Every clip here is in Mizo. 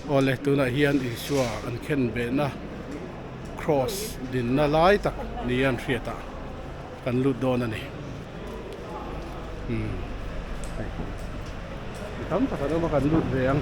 Awle tunah hian Isua an khenbehna Kraws dinna lai tak ni an hriat a, kan lut dawn a ni. Umm mi tam tak an awm a kan lut ve ang.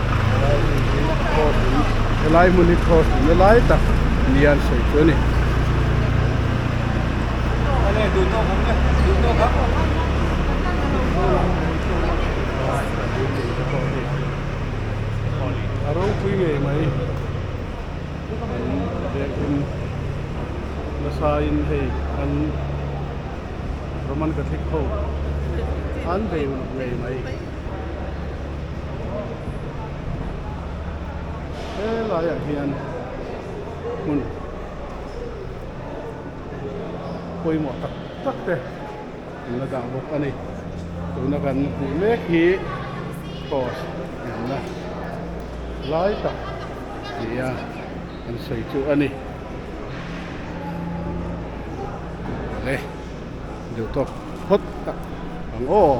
helai hmun hi kraws in helai hmun hi kraws in na lai tak lian sawi chu a ni a ropui ngei mai biakin nasain hei an roman catholic ho an bei uluk ngei mai. helai ah hian hmun pawimawh tak tak te an la dah bawk a ni tuna kan hmuh mek hi cross inna lai tak nia kan sawi chu a ni le duhthawk phawt tak ang aw.